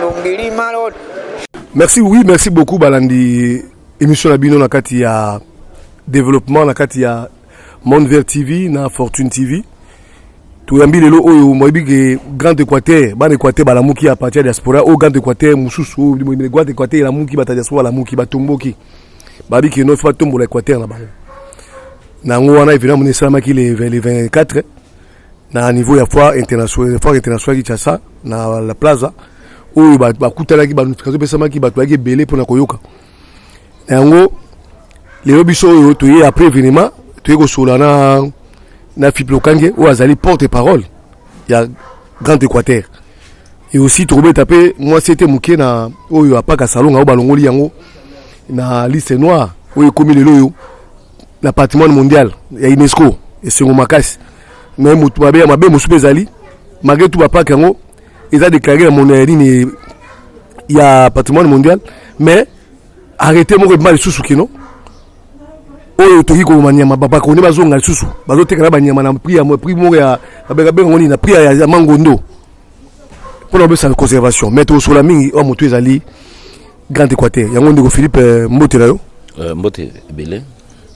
Longeli malot. Merci oui, merci beaucoup balandi émission na bino na kati ya développement na kati ya Monde Vert TV na Fortune TV. toyambi lelo oyo moyebi ke grand équateur bana équateur balamuki ya parti ya diaspora oyo grand équateur mosusu oyo moyebi grand équateur elamuki bata diaspora balamuki batomboki babi ke nofi batombola équateur na bango na yango wana evidemment esalamaki le 24 na niveau ya foire internationale foire internationale Kinshasa na la plaza oyo bakutanaki ba notification epesamaki bato bayaki ebele mpona koyoka na yango lelo biso oyo toye après événement toye kosolola na na Philippe Lokange oyo azali porte parole ya Grand Équateur et aussi tokobeta mpe mwasi ete moke na oyo apaka salonga oyo balongoli yango na liste noire oyo ekomi lelo oyo na patrimoine mondial ya unesco esengo makasi me moto mabe ya mabe mosusu mpe ezali malgré tout bapake yango eza déclaré na mono ya nini ya patrimoine mondial mais arrete moko ebima lisusu kino oyo toki koloma nyama babakoni bazonga lisusu bazoteka na banyama na prix ya prix moko ya babengabenga ngo nini na prix ya mangondo mpona bapesa conservation mais tokosola mingi oyo motu ezali Grand Equateur, yango ndeko Philippe euh, mbote na yo. Euh, mbote ebele.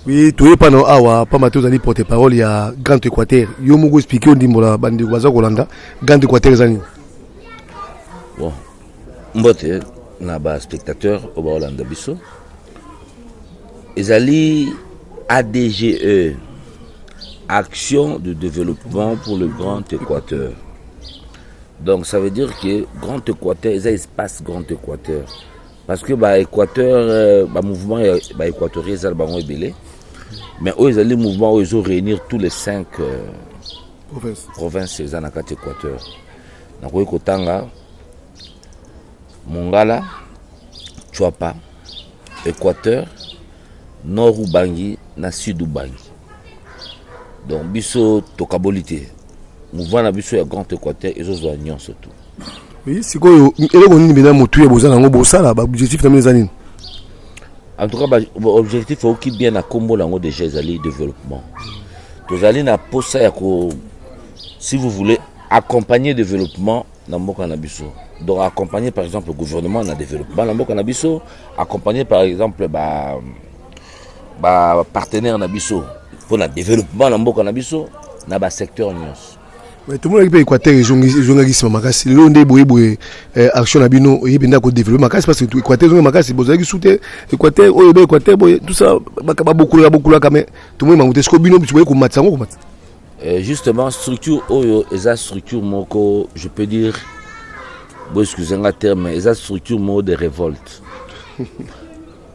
Oui, toye pano awa pamba te ozali porte parole ya Grand Equateur. Yo moko expliquer ondimbola bandeko baza kolanda Grand Equateur eza nini? Bon. Mbote na ba spectateurs au Baolanda biso. Ezali ADGE Action de développement pour le Grand Équateur. Donc ça veut dire que Grand Équateur eza espace Grand Équateur parce que ba Équateur euh, ba mouvement ya ba Équatoriens eza bango ebele mais oyo ezali mouvement oyo ezo réunir tous les cinq euh, province province eza na kati Équateur nakoki kotanga Mongala Chuapa Équateur Nord Ubangi na Sud Ubangi donc biso tokaboli te mouvement na biso ya grand équateur ezozwa nyonso tu oui sikoyo eloko nini bena motu ya boza nango bosala baobjectif na bino eza nini en tout cas baobjectif oyoki bien na nkombo na yango déjà ezali développement tozali na mposa ya ko si vous voulez accompagner développement na mboka na biso donc accompagner par exemple gouvernement na développement na mboka na biso accompagner par exemple ba ba partenaire na biso mpo na développement na mboka na biso na ba secteur nyonso tomonaki mpe équateur ezongaki nsima makasi lelo nde boye boye eh, action na bino oye mpenza kodeveloppe makasi parce que équateur ezongi makasi bozalaki su te équateur oyo ebe équateur boye tout ça babokolaka bokolaka mais tomoni bango te siko bino boye komatisa yango komatisa eh, justement structure oyo eza structure moko je peux dire boexcuse nga terme eza structure moko de révolte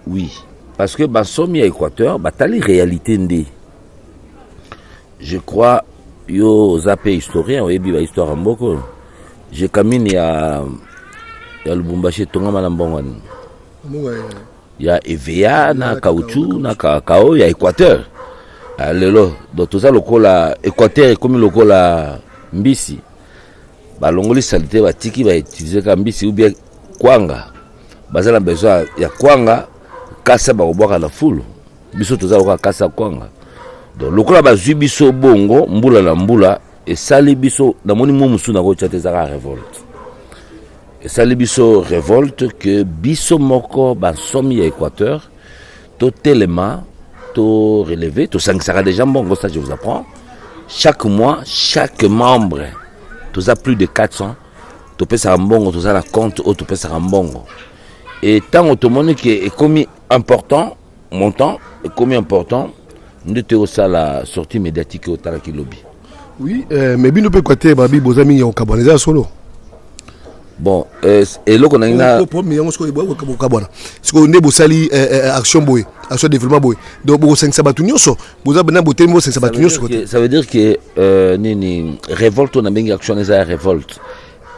Oui, parce que bansomi ya Equateur batali réalité nde. Je crois yo oza mpe historien oyebi ba histoire ya mboka oyo. Je kamini ya ya Lubumbashi etongama na mbongo nini? Ya EVA na caoutchouc na kakao ya Equateur. Ah, lelo do toza lokola Equateur ekomi lokola mbisi balongoli salite batiki bautilize ka mbisi ou bien kwanga baza na besoin ya kwanga kasa bakobwaka na fulu biso toza lokola kasa kwanga donc lokola bazwi biso bongo mbula na mbula esali biso namoni mwa mosusu nakotya te ezaka revolte esali biso revolte ke biso moko bansomi ya équateur totelema to releve tosangisaka déjà mbongo ça je vous apprends chaque mois chaque membre toza plus de 400 topesaka mbongo toza na compte oyo topesaka mbongo e ntango tomoni ke ekomi important montant ekomi important nde toyosala sortie médiatique oyo otalaki lobi oui euh, mais bino mpe equateur babi boza mingi ya kokabwana eza ya solo bon euh, eloko nangi yango sikoyo bokabwana sikoyo nde bosali euh, euh, action boye action développement boye donc bokosangisa bato nyonso boza na botelemi bosangisa bato nyonso kote ça veut dire que euh, nini révolte na bengi action eza ya révolte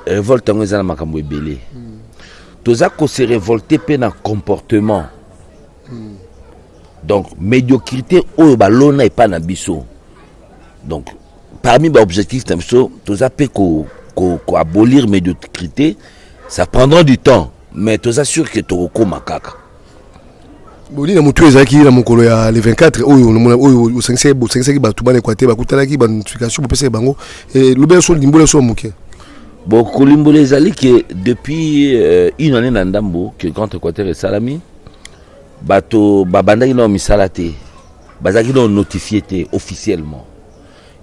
révolte yango eza na makambo ebele toza kose révolte mpe na comportement donc médiocrité oyo balona epai na biso donc parmi baobjectif na biso toza mpe koabolir ko, ko médiocrité ça prendra du temps mais toza sûr ke tokokóma kaka bolina motu oyo ezalaki na mokolo ya le 24 oyo nomona oyo bosangisaki bosangisaki bato bana ekwate bakutanaki banotification bopesaki bango eh, lobela so limbola so ya moke bon kolimbola ezali ke depuis euh, une année na ndambo ke grand équateur esalami bato babandaki nao misala te bazalaki nao notifie te officiellement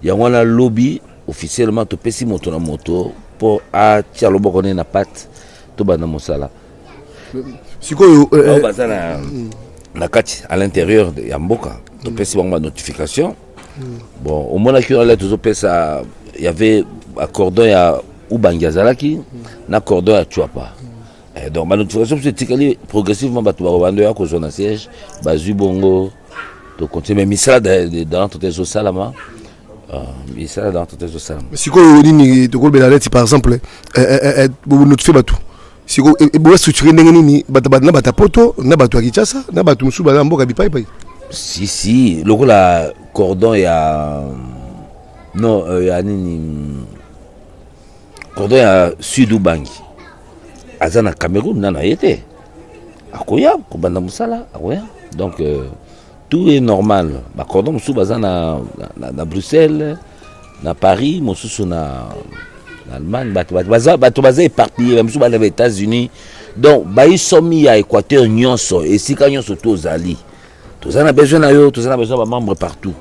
yango wana lobi officiellement topesi moto na moto mpo atia loboko ne na pate tobanda mosala sikoyo euh, euh, baza na mm. na kati à l'intérieur ya mboka topesi bango banotification mm. bon omonaki wana le tozopesa y avait acordon ya ubangi azalaki mm. na cordon ya chuapa eh, donc banotification biso etikali progressivement bato bakobando ya kozwa na siège bazwi bongo tokontinue mais misala dans tote ezosalama bisala dans tout ezosala sikoyo nini tokolobela neti par exemple notifie bato sikoyo boya structure ndenge nini na bato ya poto na bato ya kinshasa na bato mosusu baza mboka bipaipai si si lokola cordon ya non euh, ya nini cordon ya sud ubangi aza na cameroun na na ye te akoya kobanda mosala akoya donc euh, Tout est normal. Ba cordon mosusu baza na, na, na Bruxelles, na Paris, mosusu na, na Allemagne. Bato baza, bato baza éparpillé, ba mosusu bana ba États-Unis. Donc bayi somi ya Équateur nyonso, esika nyonso to ozali. Toza na besoin na yo, toza na besoin ba membres partout.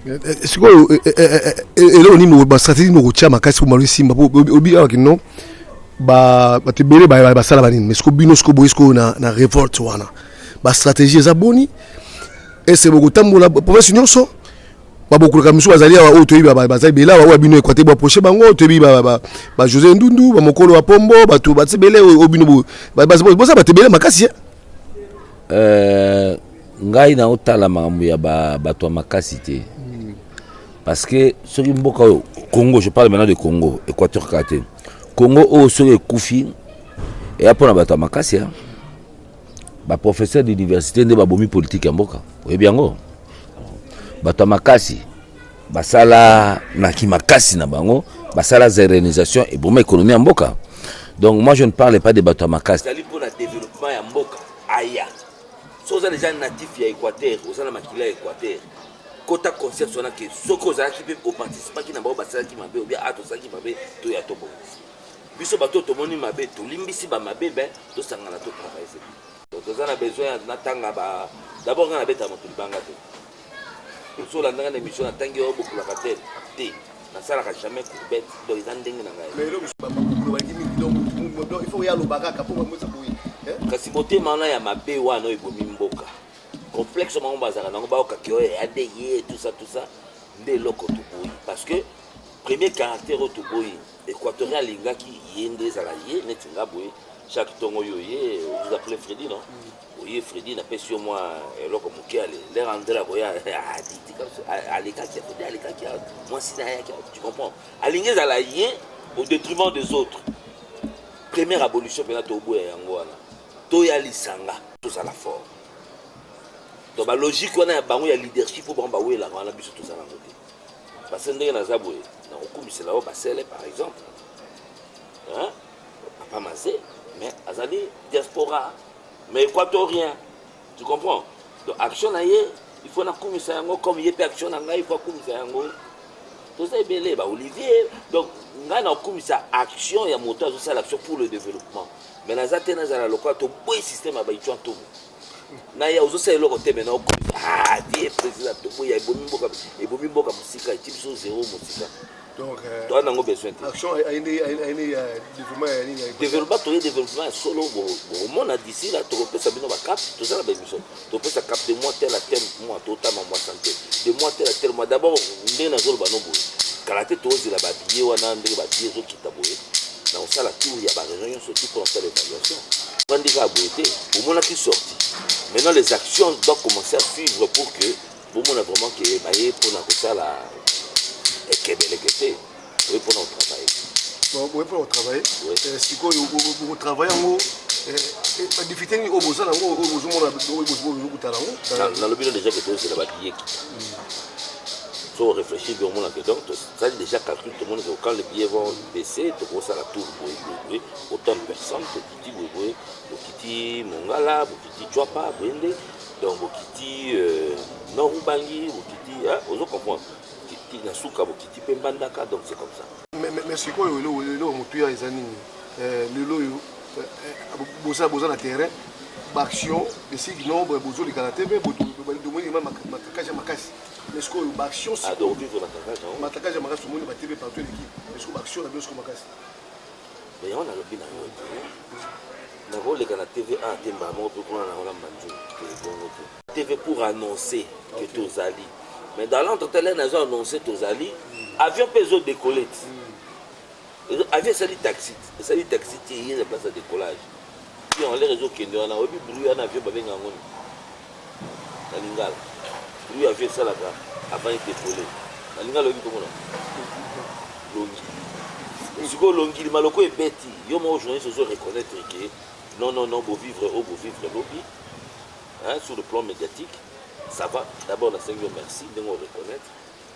Euh, euh, sikoyo euh, eloko nini bastratégie nini okotya makasi po malo esimba po obi awa kino bato ebele basala banini mais siko bino siko boyi sikoyo na revolte wana ba stratégie eza boni ese bokotambola province nyonso babokolaka misusu bazali awa oyo toyebi baza ebele awa oyo bino ekwate boaproche bango toyebi bajosé ndundu bamokolo ya pombo bato bati ebele oyo bino boza bato ebele makasi euh, ngai naotala makambo ya bato ya makasi te hmm. parce que soki mboka oyo congo je parle maintenant de congo équateur kaka te congo oyo soki ekufi eya mpo na bato ya makasi ba professeur d'université nde babomi politike ya mboka oyebi yango bato ya makasi basala na kimakasi na bango basala zerenisation eboma ekonomi ya mboka donc moi je ne parle pas de bato ya makasi ezali mpo na développement ya mboka aya so oza deja natif ya équateur oza na makila ya équateur kota concept wana ke soki ozalaki mpe oparticipaki na bango basalaki mabe obia a tosalaki mabe toya tobongisi biso bato oyo tomoni mabe tolimbisi bamabe be tosangana to travaille se toza na besoin ya natanga ba dabord nga nabeta moto libanga te osolandanga na émission natangi yo bokulaka te te nasalaka jamais courbette donc eza ndenge na ngai kasi motema wana ya mabe wana oyo ebomi mboka complexe bango bazalaka nango baokaki oyo ya de ye tout ça tout ça nde eloko toboyi parce que premier caractère oyo toboyi Equatorial alingaki ye nde ezala ye neti nga boye chaque tongo yo ye vous appelez Freddy non mm. oye Freddy na pesi yo mwa eloko moke ale lera andela koya alekaki Freddy alekaki mwasi na yaki tu comprends alingi ezala ye au détriment des autres première abolition mpena toboya yango wana toya lisanga tozala fort donc balogique wana ya bango ya leadership oyo bango bawelaka wana biso toza nango te Parce ndenge naza boye nakokumisela yo basele par exemple hein? papa maze mais azali diaspora mais équatorien tu comprends donc action na ye il faut nakumisa yango comme ye mpe action na ngai il faut akumisa yango toza ebele ba olivier donc ngai nakokumisa action ya moto azosala action pour le développement mais naza te nazala lokola toboyi système ya baichua ntomo na ya ozosala eloko te mena okomi ah, vie président toboya ebomi mboka ebomi mboka mosika eti biso zero mosika donc euh, toza nango besoin te action ayende ayende ya développement ya nini développement toye développement ya solo bomona d'ici là tokopesa bino ba cap toza na bemission topesa cap de mois tel à tel mois totama mois santé de mois tel à tel mois d'abord ndenge nazoloba no boye kala te tozela ba billets wana ndenge ba billets ezokita boye nakosala tour ya bareunion nyonso tu mpo nasala évaluation vandi kaka boye te bomonaki sorti maintenant les actions doit commencer à suivre pour que bomona vraiment ke baye mpo na kosala ekebeleke te oye mpo na kotravaille boye mpo na kotravaille eh, sikoyo bokotravaille yango badifite eh, eh, nini oyo boza nango oyo bozomona bozokuta nango nalobi no déjà ke tozela babiyeki so réfléchir biomona ke donc ezali deja calcul tomoni que quand le billet vont baisser tokosala tour boye boye boye autant de personnes tokiti boye boye bokiti mongala bokiti cwapa boye nde donc bokiti euh, nord ubangi bokiti ozo comprendre bokiti na suka bokiti mpe mbandaka donc c'est comme ça mais sikoyo eloko motuya eza nini euh, lelo oyo euh, boza na terrain baaction esiki nombre bozolekana te mpe botomoni makasi makasi mais sikoyo baaction matakage ya makasi omoni batv partout eleki mais sikoyo baaction na bino sikoyo makasi mais yango nalobi na yo nakoleka na tv a te mbala moko mpe kuna na olamba nzoi ebongo te tv pour annoncer que tozali mais dans l'entre tele nazo annoncer tozali avion mpe ezodecolle ti Avion esali taxi, esali taxi te eye na place ya décollage. Ti en l'air ezokende wana, oyebi bruit wana avion babenga yango nini? Na lingala. Bruit avion esalaka avant edecoller. Na lingala oyebi komona? Longi. Sikoyo longi maloko ebeti, yo moko journaliste ozo reconnaître que non non non bo vivre o bo vivre lobi. Hein, sur le plan médiatique, ça va. D'abord nasengi yo merci ndenge o reconnaître.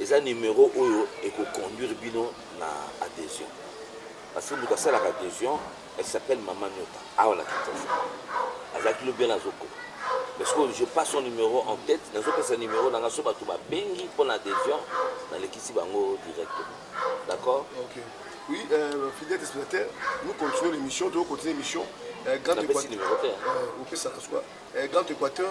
eza numero oyo eko conduire bino na adhesion parce que moto asalaka adhesion elle s'appelle mama nyota awa na kinshasa azalaki lobi wana azokoma parce que je passe son numero en tête nazopesa numero na nga so bato babengi mpo na adhesion nalekisi bango directement d'accord okay. oui euh, fidèle téléspectateur nous continuons l'émission toyo continue l'émission euh, grand équateur euh, opesaka swa euh, grand équateur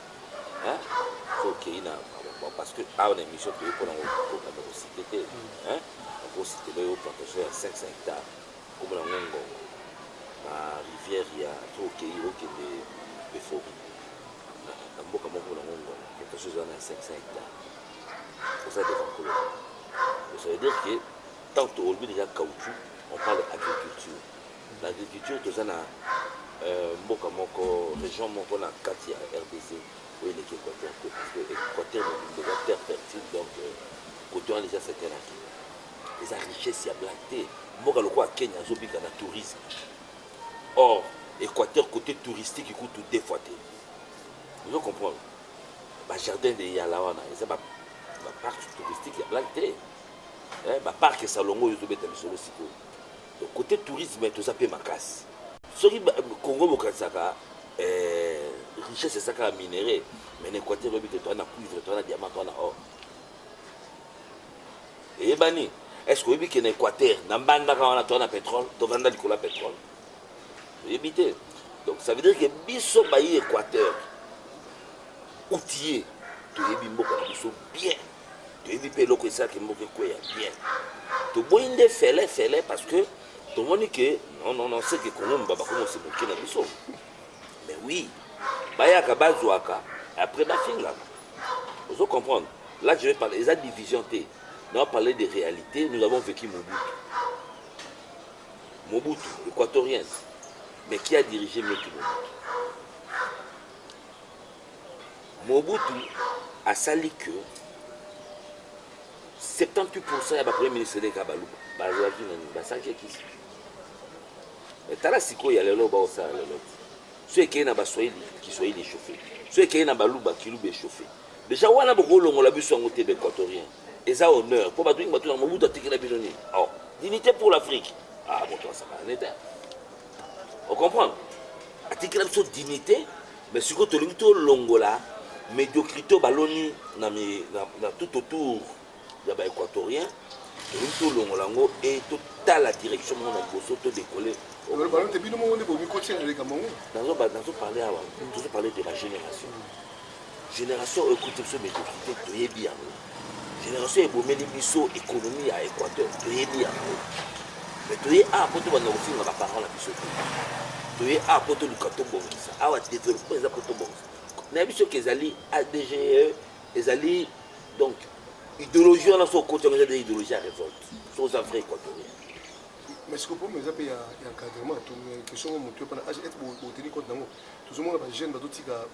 hein so kei na parce que awa na émission toye pona kokanda kosite te hein okositela yo plantation ya 500 hectare kombo na ngo ngongo na rivière ya to okei okende befori na mboka moko na ngo ngongo plantation eza na 500 hectare oza devant kolo ça veut dire que tant tolobi déjà caoutchouc on parle agriculture Na agriculture toza na mboka moko region moko na kati ya rdc oyo eleki equateur te parce que equateur mobimba eza terre fertile donc kote wana deja secteur na kenya eza richesse ya black te mboka lokola kenya azobika na tourisme or equateur kote touristique kutu deux fois te ozo comprendre bajardin de yala wana eza baparc touristique ya black te baparc esalongo oyo ezobeta misolo sikoyo Cote tourisme toza mpe makasi. Soki Congo bokanisaka eh, richesse eza kaka minerais, mais na Equateur lobi te toa na cuivre, toa na diamant, toa na or. Eyebani, est-ce que oyebi ke na Equateur, na mbandaka wana toa na pétrole, tovanda likolo ya pétrole. Oyebi te. Donc ça veut dire que biso bayi Equateur, outillé, toyebi mboka na biso bien. toyebi mpe eloko esalaki mboka ekweya bien toboyi nde fele fele parce que tomoni ke non non non seke kongo mba bakomosi moke na biso mais oui bayaka bazwaka après bafingaka ozo comprendre là je vais parler eza division te na parler de réalité nous avons vécu mobutu mobutu équatorien mais qui a dirigé mobutu mobutu Mobutu asali que 78% ya ba premier ministre leka baluba bazalaki na nini basaki ekisi tala sikoyo ya lelo baosala lelo ti so ekei na baswahili kiswahili echauffe so ekei na baluba kiluba echauffe deja wana bokolongola biso yango te baequatorien eza honneur mpo bato mingi bato na mobutu atikela bino nini o oh, dignité pour l'afrique ah moto asaka neta ocomprendre atikela biso dignité Mais sikoyo tolingi tolongola mediocrite baloni na, na, na tout autour ya ba équatorien tolingi tolongola yango e totala direction moko na liboso todekole nazoparle awa tozoparle de la génération génération oyo ekuti biso mediocrite toyebi yango Generation ebomeli biso economie ya Equateur toyebi yango mais toye awa mpo tobanda kofinga baparent na biso te toye awa mpo toluka tobongisa awa developpement eza mpo tobongisa nayebi soki ezali adge ezali donc idéologie wana so okoti yango eza de idéologie ya révolte so oza vrai équatorien mais siko problème eza mpe ya encadrement question ngo motu epana age ete boteni compte nango tozomona bajeune bazotika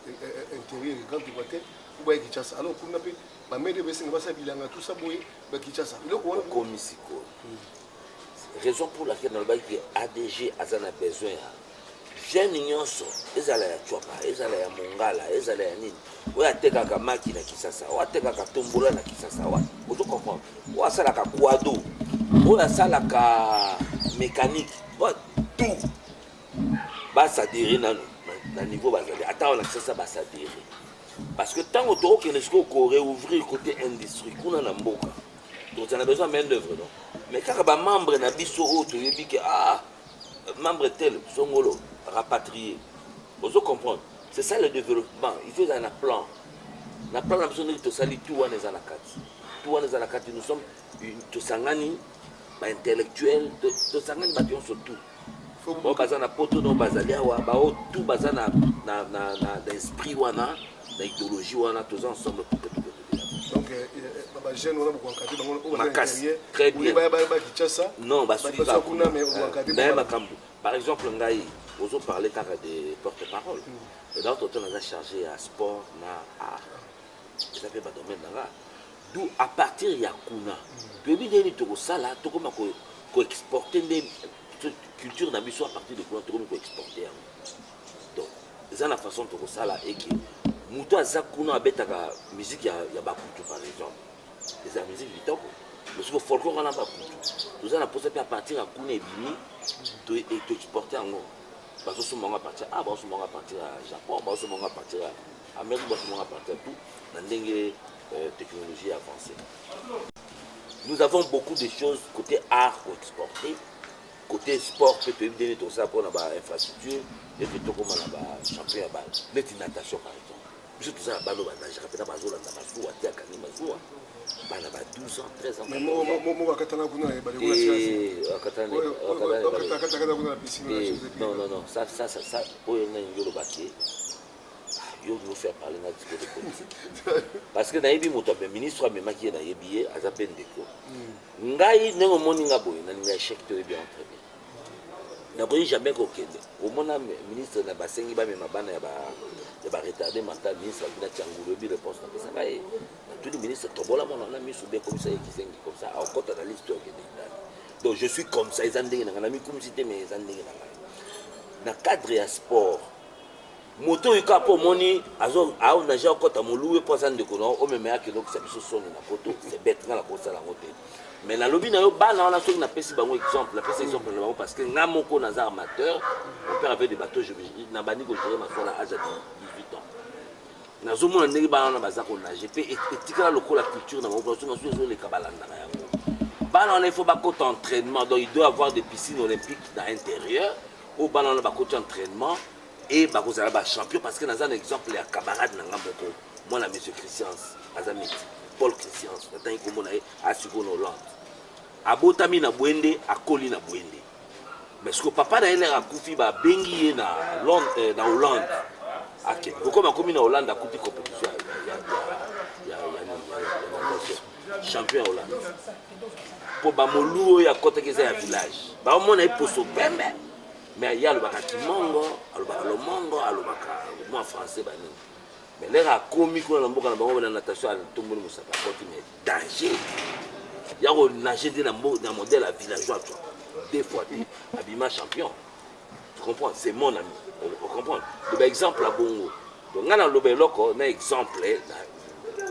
intérieur grand équateur kuba ya kinshasa alors kuna mpe bamede baesenga basala bilanga tusa boye ba kinshasa eloko wana okomi sikoyo raison pour laquelle nalobaki ke adg aza na besoin ya gene nyonso ezala ya cwapa ezala ya mongala ezala ya nini oyo atekaka maki na kisasa oyo atekaka tombola na kisasa wa ozo comprendre oyo asalaka kwado oyo asalaka mécanique oyo tout basadire nano na niveau bazali ata wana kisasa basadire Parce que tango toko kende siko ko reouvrir côté industrie kuna na mboka. Donc on a besoin main d'œuvre non. Mais kaka ba membres na biso oyo toyebi ke ah membre tel songolo rapatrier. Ozo comprendre? C'est ça le développement. Il faut un plan. Na plan na biso ndio tosali tout wana eza na kati. Tout wana eza na kati nous sommes tosangani ba intellectuels tosangani bato nyonso tout. oyo baza na poto no bazali awa baoyo tout baza na, na, na, na, na esprit wana na idéologie wana toza ensemble pour que bajeune wana bokoankadre bango oyo makasi très bien baya baya kinshasa non basuki kaka kuna mais bokoankadre naye makambo par exemple ngai ozo parle kaka de porte parole hmm. donc toto naza chargé ya sport na art eza mpe badomaine na nga D'où à partir ya kuna toyebi ndenge nini tokosala tokoma ko, ko exporter nde culture na biso à partir de kuna tokomi ko exporter yango donc eza na façon tokosala eke moto aza kuna abetaka musique ya, ya bakutu par exemple eza musique kitoko mosiko folklore wana bakutu toza na mposa mpe apartir ya kuna ebimi toexporte yango bazosomba yango apartir a bazosomba yango apartir ya japon bazosomba yango apartir ya amérique bazosomba yango apartir ya tout na ndenge euh, technologie avancée. Nous avons beaucoup de choses côté art pour exporter, côté sport, peut être donner tout ça pour la infrastructure, et puis tout comme la champion à balle. Mais une natation par exemple. biso toza na bana oyo banagaka mpena bazolanda mazuwa te akangi mazuwa bana ba 12 ans 13 ans akatana kuna oyo nani yolobaki yo olingi ofi aparle nga discours de politique parce que nayebi moto ya ministre amemaki ye nayebi ye aza mpe ndeko hmm. ngai ndenge omoni nga boye nalinga échec te oyebi entre bien nakoki jamais kokende omona ministre na basengi bamema bana ya baretarde mental ministre abina tiangulu oyebi réponse napesaka ye natuni ministre tobola mwana wana miso be ekomisa ye kizengi comme ça akota na liste oyo akende ndani donc je suis comme ça eza ndenge na ngai namikumisi te mais eza ndenge na ngai na cadre ya sport moto oyo kaka po omoni azo naja okota moluwe po aza ndeko na yo omema yaki elokisa biso soni na poto se bete nga nakosala yango te mais nalobi na yo bana wana soki napesi bango exemple napesi exemple na bango parce que nga moko naza amateur mon père avait des bateaux nabandi kogere maswa na age ya 18 ans nazomona ndenge bana wana baza konage mpe e, etikala lokola culture na bango soki basusu ezoleka balandaka yango bana wana il faut bakota entraînement donc il doit avoir des piscines olympiques na intérieur oyo bana wana bakoti entraînement e bakozala bachampion parce que naza na exemple ya camarade na nga moko mwana monsieur christians aza miti paul christians natangi nkombo na ye asiko na hollande abotami na bwende akoli na bwende mais siko papa na ye lere akufi babengi ye na, eh, na hollande akende kokoma akomi na hollande akuti compétition ya champion ya Hollande mpo bamoluo oyo akɔtaki eza ya village baomona ye poso pembe mais ye alobaka kimongo alobaka lomongo alobaka mwa français banini mais leka akomi kuna na mboka na bango na natation atomboli mosaka akoti mais danger ya konage nde na modèle ya villageois to deux fois te abima champion tu comprends c'est mon ami o comprends de ba exemple abongo donc nga na loba eloko na exemple na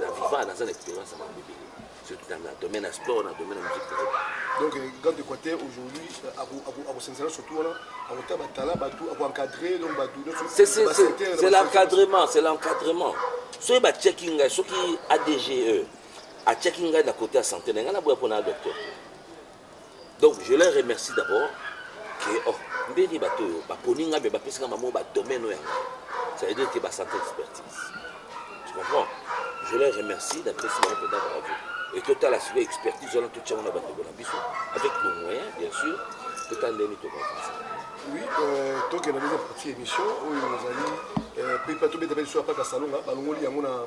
na viva na za expérience na bibi surtout dans le domaine de sport na domaine de musique donc euh, grand équateur aujourd'hui euh, akosenzela surtout wana akota batala bato akoencadre donc bato c'est l'encadrement c'est l'encadrement soki batiaki ngai soki adge atiaki ngai na kote ya santé na ngai naboya mpona ya docteur Donc je leur remercie d'abord que oh, ndenge bato oyo baponi ngai me bapesi ngai bamoko badomaine oyo ya ngai ça veut dire que basante expertise tu comprends je leur remercie napesi bango mpenza bravo e totala sikoyo expertise wana totyango na bandeko na biso avec nos moyens bien sûr totala ndenge tokoavansa oui euh, tokenda ndenge parti émission oyo ezali euh, pepa tobeta mpe lisusu apaka salonga balongoli yango na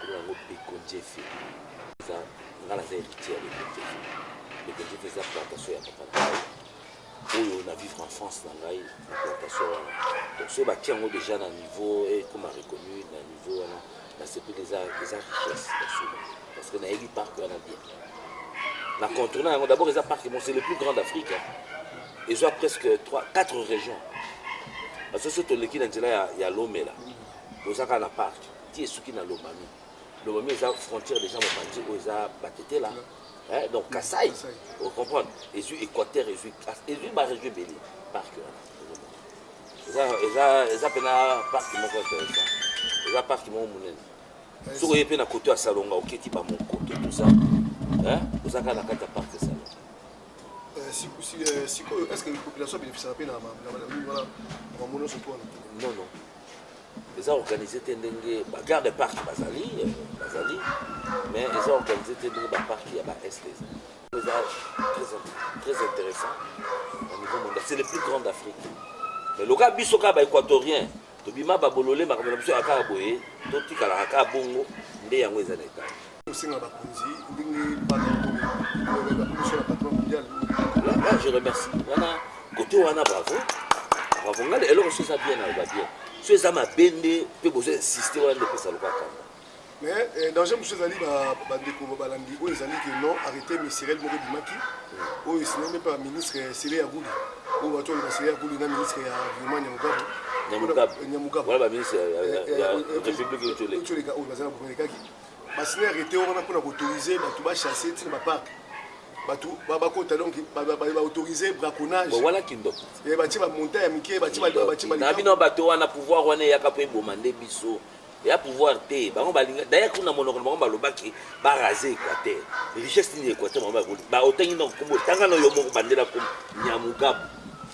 Kuna yango Beko Njefe. Eza nga naza héritier ya Beko Njefe. Beko Njefe eza plantation ya papa na ngai. Oyo na vivre en France na ngai na plantation wana. Donc soki batie yango déjà na niveau ekoma eh, reconnu na niveau wana nasepeli eza eza richesse ya solo parce que nayebi parc wana bien. Na contourna yango d'abord eza parc moko c'est le plus grand d'Afrique. Hein. Ezwa presque 3 4 régions. Parce que soki toleki na nzela ya, ya Lomela. Mm -hmm. Boza kaka na parc ti esuki na Lomami. Lomami eza frontière déjà mopanzi oyo eza Batetela hein, donc Kasaï, vous comprenez Ezui Équateur, ezui ezui ba région ebele parc wana. Eza eza eza pena parc moko intéressant. Eza parc moko munene. Soko ye pe na koto ya Salonga oketi ba monkoto tout ça. Hein? Boza kaka na kati ya parc Salonga. sikoyo est ce que population abénéficiaka mpe na bamona soki wana non non eza organise te ndenge ba garde parc bazali euh, bazali mais eza organise te ndenge ba parc ya ba est eza eza très intéressant au niveau mondial c'est le plus grand d'afrique mais loka biso kaka baéquatorien tobima babolole makambo na biso ya kaka boye totikalaka kaka bongo nde yango eza na etat tosenga bakonzi ndenge patron mondial là je remercie wana kote wana bravo bravo ngai eloko so eza bien naloba bien so eza mabe nde mpe bozo insiste wana nde epesa lokola kanda mais eh, danger mosusu ezali bandeko balandi oyo ezali ke non arrete ministeriel moko ebimaki hmm. oyo esinami mpe baministre sele ya guli oyo bato oloba sele ya guli na ministre ya environnement ya mogabu nyamugabo wana baministre ya république ecoleka oyo baza na bomelekaki basili ya rete wana mpona koautorize bato bachasse ntina baparke bato bakota donc baautorize braconnagewana kindoko eh, batie bamonta ya mike na bino bato wana pouvoir wana eyaka mpo eboma nde biso ya pouvoir te bango balinga daya kuna monoko na bango balobaki barase équateur richesse nini équateur bango baotangi na nkombo tanga na yo moko bandela nkombo nyamugabu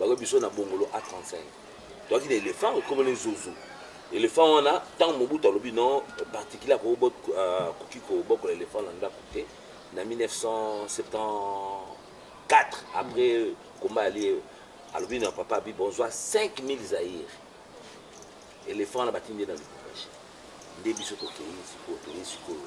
Bako biso na bongolo A35 toaki na elephant ekomeli zozo elephant wana ntango mobutu alobi non particulier akoki euh, kobokola elephant na ndako te na 1974 après komba ya lie alobi na papa abi bonzwa 5000 zaire elephant na batindi ye na lubumbashi nde biso tokei sikoyo toyei sikoyo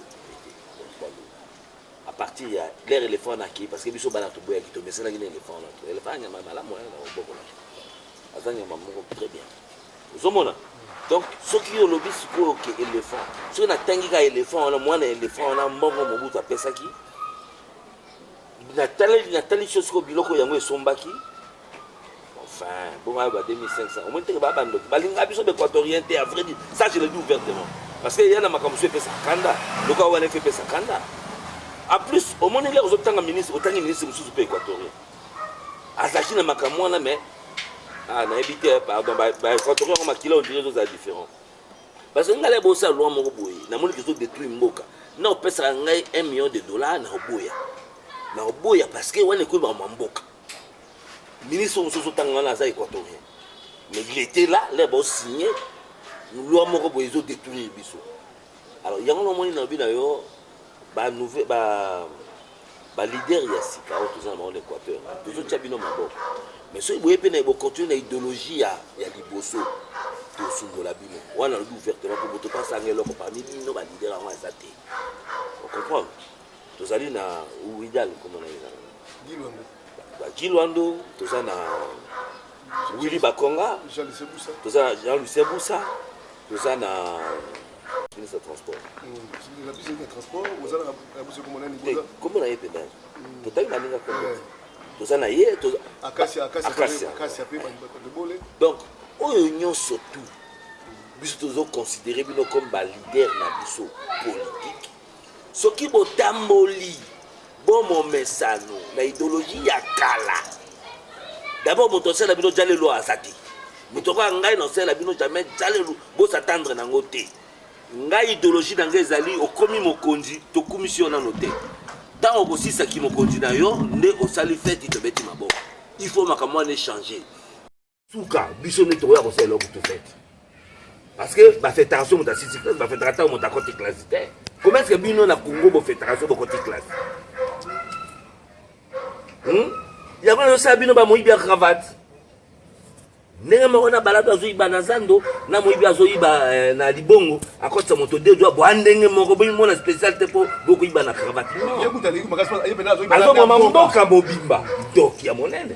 à partir ya leur elephant na ki parce que biso bana toboyaki tomesanaki na elephant na to elephant nyama malamu wana na oboko na aza nyama moko très bien ozomona donc soki olobi sikoyo ke elephant soki natangi ka elephant wana mwana elephant wana mbongo mobutu apesaki natali natali sio sikoyo biloko yango esombaki Enfin, bon, bah, 2500. Au moins, tu vas bando. Bah, l'inga biso d'équatorien, t'es à vrai dire. Ça, je le dis ouvertement. Parce qu'il y en a comme fait sa kanda. Le cas où elle fait sa kanda. En plus, au moins, il y a autant de ministres, autant de ministres, monsieur, super équatorien. Azachi na makamwana, mais. Ah, na évité, hein, pardon. Bah, bah, équatorien, on m'a kilo, on dirait que c'est différent. Parce que ngalais bossa loi moko boye. Na moni kizo détruit mboka. Na opesa ngai 1 million de dollars na oboya. Na oboya parce que wana ekolo ba mboka. ministre mosusu ozotanga wana aza équatorien mais il était là le bosigne loi moko boye ezo détruire biso alors yango namoni nalobi na yo baleader ba, ba ya sika oyo toza na bango na équateur tozotya bino maboko mais soki boye mpe na bocontinue na idéologie ya, ya liboso tosundola bino wana nalobi ouvertement mpo moto mpe asanga eloko parmi bino baleader yango aza te ocomprendre tozali na widal nkoma na ye na bajilwando toza na willi bakonga toza na jean lucien busa toza na ministre ya transport kombo na ye mpenza totali baninga kombo toza na ye donc oyo nyonso tout biso tozoconsidere bino comme balider na biso politique Soki botamboli bo momesano na ideologie ya kala, d'abord moto asala bino jalelo aza te. Moto akoya ngai na osala bino jamais jalelo, bo s'attendre nango te. Ngai ideologie na ngai ezali okomi mokonzi, tokumisi yo nano te. Ntango okosisa kimokonzi na yo nde osali feti tobeti maboko. Il faut makambo wana echange. suka biso nde tokoya kosala eloko to fete parce que bafetaka so moto asisi classe bafetaka ntango moto akoti classe te comment ce que bino na congo bofetaka so bokoti classe hmm? yango nazosala bino bamoyibi ya cravate ndenge moko na balado azoyiba na zando na moyibi azoyiba eh, na libongo akotisa moto de dwa bwa ndenge moko bomimona spécial te mpo bokoyiba na cravate azomama mboka mobimba doki ya monene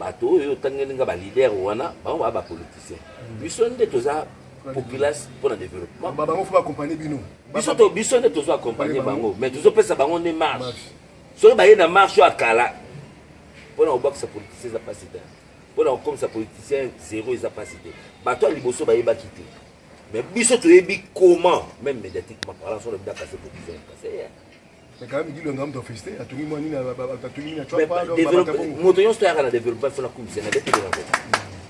bato oyo otangeli nga balider wana bango baa bapoliticien biso nde toza populace mpo na développement bango fo baaccompagne bino biso nde tozo accompagne bango mais tozopesa bango nde marche soki baye na marche oyo akala mpo na kobakisa politicien eza mpasi te mpo na kokomisa politicien zero eza mpasi te bato ya liboso bayebaki te mais biso toyebi comment même médiatiquement parlant so lobi dakase politicien kase moto nyonso toyaka na developpement fo nakumisa na betele na boka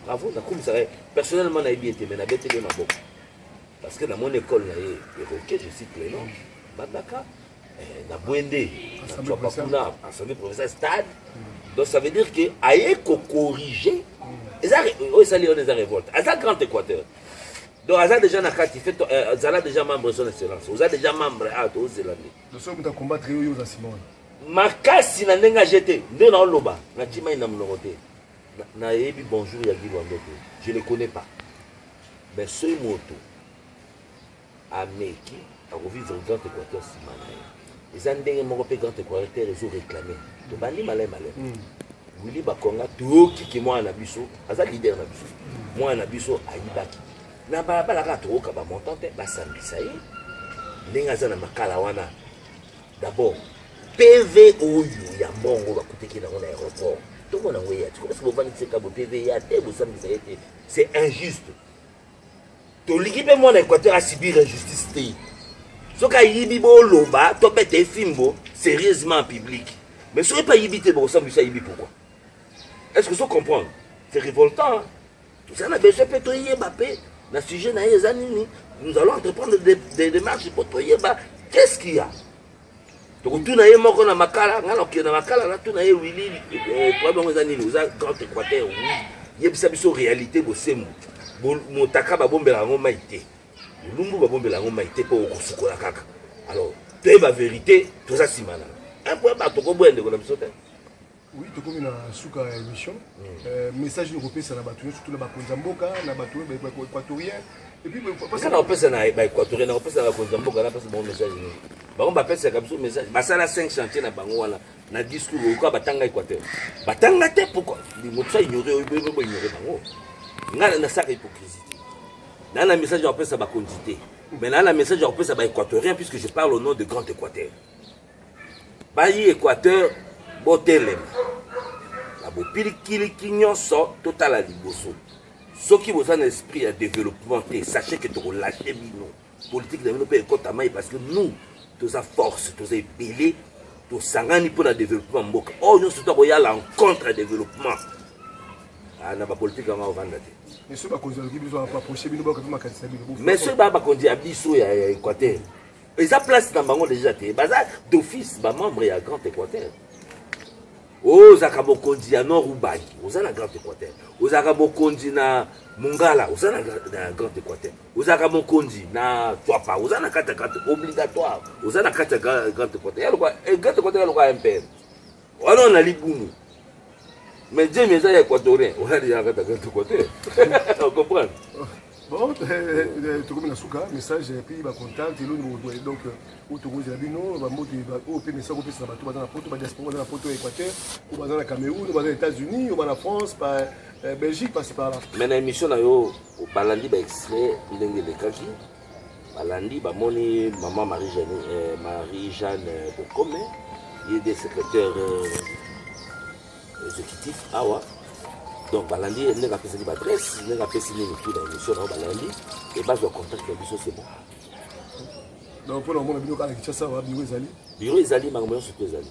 bravo nakumisaka ye personnellement nayebi ete me na betele ye maboko parce que na mon école na ye eroke je cite le nom bandaka eh, na bwende na cwapa kuna assemblée provinciale stade mm. donc ça veut dire que aye kocorrige mm. eza oyo esali wana eza révolte aza grand équateur donc aza deja na kati fe euh, zala deja membre son excellence oza deja membre a ah, tozela nde soki moto akombatre yo yo oza nsima wana makasi na ndenge aje te nde naoloba natimai na monoko te nayebi bonjour ya gilwando te je ne connais pas mais soki moto ameki Ako vivre grand equateur sima na ye. Eza ndenge moko pe grand equateur ezo reclamer. To bandi malay malay. Mm. Willy Bakonga toyoki ke mwana na biso aza leader na biso. Mm. Mwana na biso ayibaki. Na balabala kaka tokoka ba montant te basambisa ye. Ndenge aza na makala wana. D'abord PV oyo ya mbongo bakutaki nango na aéroport tomonango eya tikomosi bovandiseka bo PV ya te bosambisa ye te c'est injuste tolingi mpe mwana equateur asibir injustice te soki ayibi boloba tobeta efimbo sérieusement en public mais soki mpe ayibi te bokosambisa ayibi pourquoi est ce que so comprendre c'est révoltant tozali na besoin mpe toyeba mpe na sujet na ye eza nini nous allons entreprendre des, des démarches mpo toyeba qu'est ce qu'il y a tokotuna ye moko na makala ngai nakokende na makala natuna ye wili problème yango eza nini oza grand équateur wi yebisa biso réalité bosembo motaka babombela yango mai te bolumbu babombela yango mai te mpo okosukola kaka alors toyeba verité toza nsima na un point ba tokoboya ndeko na biso te Oui, tokomi na suka ya émission. Euh, message noko pesa na bato nyonso tuna bakonzi ya mboka na bato oyo ba équatorien et puis Sasa na opesa na ba équatorien na opesa na bakonzi ya mboka na pesa bango message nini? Bango ba pesa ka biso message. Basala 5 chantier na bango wana na discours oyoka batanga équateur. Batanga te pourquoi? Moto sa ignorer oyo boyo boyo ignorer bango. Nga na saka hypocrisie. Na na message na opesa bakonzi te. Mais na na message na opesa ba équatorien puisque je parle au nom de grand équateur. Bayi Equateur botelema na bopilikiliki nyonso, totala liboso. Soki boza na esprit ya developpement te, sachez que toko lâcher bino. Politique na bino mpe ekota mai parce que nous toza force, toza ebele, tosangani mpo na developpement ya mboka. Oyo nyonso to akoya la rencontre ya developpement ah, na bapolitike yango avanda te mais soki bakonzi ya biso ya equateur eza place na bango deja te baza d'office bamembre ya grand équateur ozalaka mokonzi ya nord ubangi oza na grand équateur ozalaka mokonzi na mongala oza na grand équateur ozalaka mokonzi na twapa oza na kati ya grand obligatoire oza na kati ya grand équateur ya lokwa eh, grand équateur ya lokwa ya mpr Wana na libumu. Mais Dieu eza ya Equatorien. Wana ya kata kata Equateur. Tu comprends? Bon, eh, eh, eh, tokomi na suka message epi bacontact eloni bokotoye donc oyo tokozela bino bamboto oyo mpe message kopesa na bato baza na poto badiaspora baza na poto ya équateur oyo baza na cameroun oyo baza na états-unis oyo baza na france pa belgique pasi pala mais na émission na yo balandi baextrait ndenge elekaki balandi bamoni mama marie jeanne eh, marie jeanne bokome ye nde secrétaire euh, exécutif awa donc balandi ye ndenge apesaki baadresse ndenge apesi nini tu na émission nao balandi e bazwa contact ya biso c'est bon donc mpo na komona bino kaka kinshasa wa biro ezali biro ezali makambo nyonso mpe ezali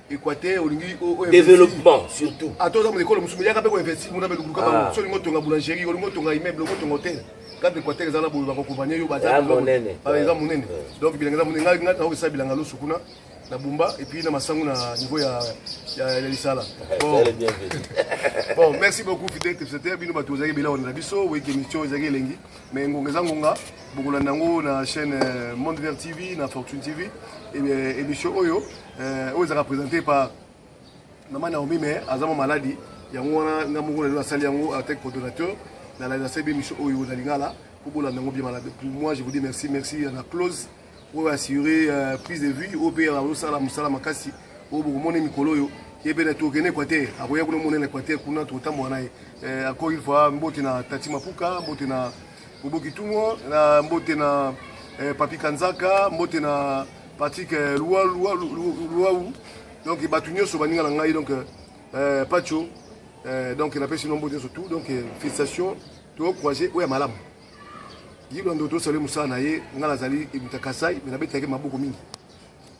Equateur olingi développement surtout. Ato ah, za mole kolo musumu yaka pe ko investir mona be lukuka ba ah. so lingo tonga boulangerie, olingo tonga immeuble, ko tonga hôtel. Quand Equateur eza na boye ba ko compagnie yo ba za. Ba ah, eza munene. Donc bilanga za munene ngai ngai na ko sa bilanga lo sukuna na Bumba et puis na Masangu na niveau ya ya Lisala. Bon. bon, merci beaucoup Fidel Tepsete bino bato ozaki bila na biso oui émission ezaki elengi mais ngonga eza ngonga bokolanda yango na chaîne euh, Monde Vert TV na Fortune TV et euh, émission oyo Euh, oyo ezalaka présente par mama naomi mais aza mwa maladi yango wana nga moko lelo nasali yango en tant que coordonnateur nalali nasali be mission oyo na lingala mpo bolanda yango bien malade pour moi je vous dis merci merci na close oyo assuré euh, prise de vue oyo mpe azosala mosala makasi oyo bokomona mikolo oyo ye mpe tokende equateur akoya kuna monene equateur kuna tokotambola na ye encore une fois mbote na tati mapuka mbote na Bobo Kitungo na mbote na eh, Papi Kanzaka mbote na Patrick eh, Luau donc bato nyonso baninga na ngai donc eh, Pacho eh, donc napesi nombo nyonso tout donc eh, félicitation tokroise oyo ya malamu yilo ndo tosali mosala na ye ngai nazali ebuta kasai me nabetaki maboko mingi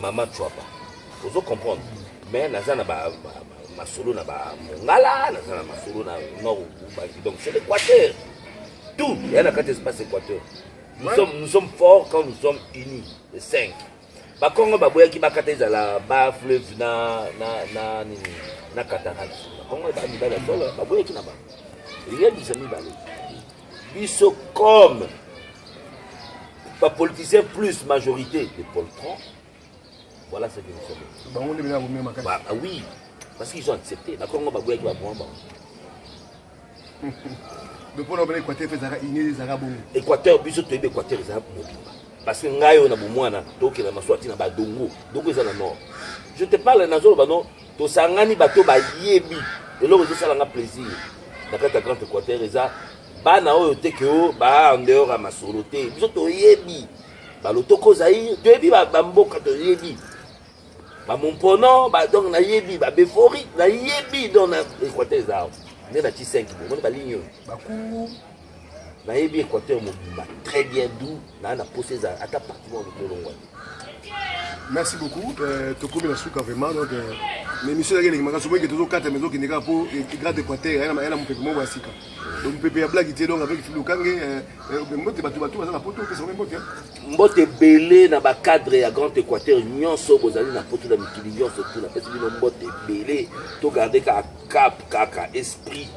Maman Chouapa, ozo comprendre mais naza na ba, ba, ba masolo na ba Mongala, naza na masolo na Nord Ubangi. Donc c'est l'Équateur. Tout, il y a na carte espace Équateur. Nous, ouais. sommes, nous sommes forts quand nous sommes unis, les cinq. Bakongo baboyaki bakata ezala ba fleuve na na na nini na cataracte. Bakongo ba mibale solo baboyaki na ba. Il y a des amis balais. biso comme bapoliticien plus majorité de poltron voilà ce que nous sommes bango nde bilako mema kati bah, ah oui parce qu'ils ont accepté bakongo baboyaki baboma bango bopona obele équateur mpe ezalaka ine ezalaka bongo équateur biso toyebi équateur ezalaka mobimba parce que ngai oyo na bomwana tokenda maswati na badongo dongo eza na nord je te parle nazoloba no tosangani bato bayebi eloko ezosala nga plaisir na kati ya grand équateur eza bana oyo te ke o baa en dehors ya masolo te biso toyebi balotoko zaire toyebi bamboka toyebi bamompono donc nayebi babefori nayebi donc na équateur eza awa nde na ti 5 bomoni balingi oyo bakungu nayebi équateur mobimba très bien du naa na posa eza ata parti moko lokolongwani merci beaucoup euh, tokomi na suka vraiment donc euh, na émission ezalaki eleki makasi oboyeke tozokata mais ezokende kaka mpo grade équateur aya na mopepe moko ya sika donc mopepe ya blaki te donc avec filokange euh, mbote bato bato baza na poto opesa bango mbote mbote ebele na bacadre ya grand équateur nyonso bozali na poto na mikili nyonso tu napesi bino mbote ebele togarde kaka cap kaka esprit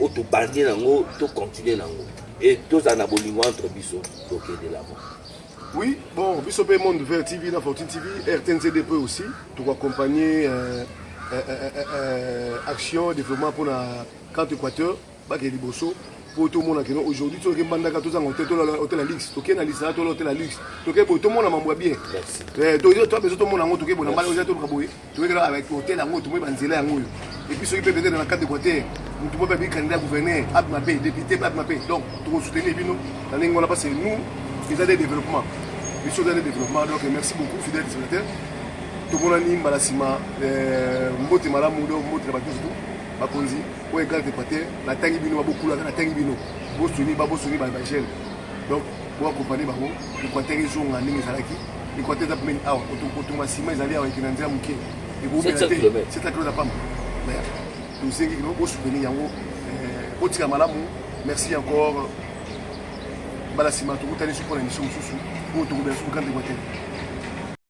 oyo tobandi nango tocontinue nango e tozala na bolingo entre biso tokende lavo Oui, bon, biso pe Monde Vert TV na Fortune TV, RTNCD peut aussi, tout accompagner euh, euh, euh, euh, euh, action développement pour la carte Équateur, bake liboso pour tout le monde kino aujourd'hui tout le monde a tout ça hôtel hôtel luxe tout ken alisa tout l'hôtel luxe tout ken tout le monde a mambo bien eh tout tout besoin tout le monde a tout ken bon na mal aux autres kaboye toyei kaka avec hotel yango tomoni banzela yango oyo epuis soki mpe peut-être na cadre équateur motu moko ayebi candidat gouverneur ape mabe député ape mabe donc tokosoutenir bino na ndenge wana parce que nous eza nde développement biso eza nde développement donc merci beaucoup fidèle dessinateur tomonani mbala nsima euh, mbote malamu donc mbote na bato surtout bakonzi oyo egrande équateur natangi bino babokulaka natangi bino bosuni babosuni bajeune donc boaccompagne bango Equateur ezonga ndenge ezalaki. Equateur eza pembeni awa, kotonga sima ezali awa ekenda nzela moke. Ekobela te, c'est la close apamba. Mais tosengi kino bosoutenir yango, eh, botika malamu. Merci encore. Bala sima tokutani soki mpo na émission mosusu oyo tokobela soki kanda Equateur.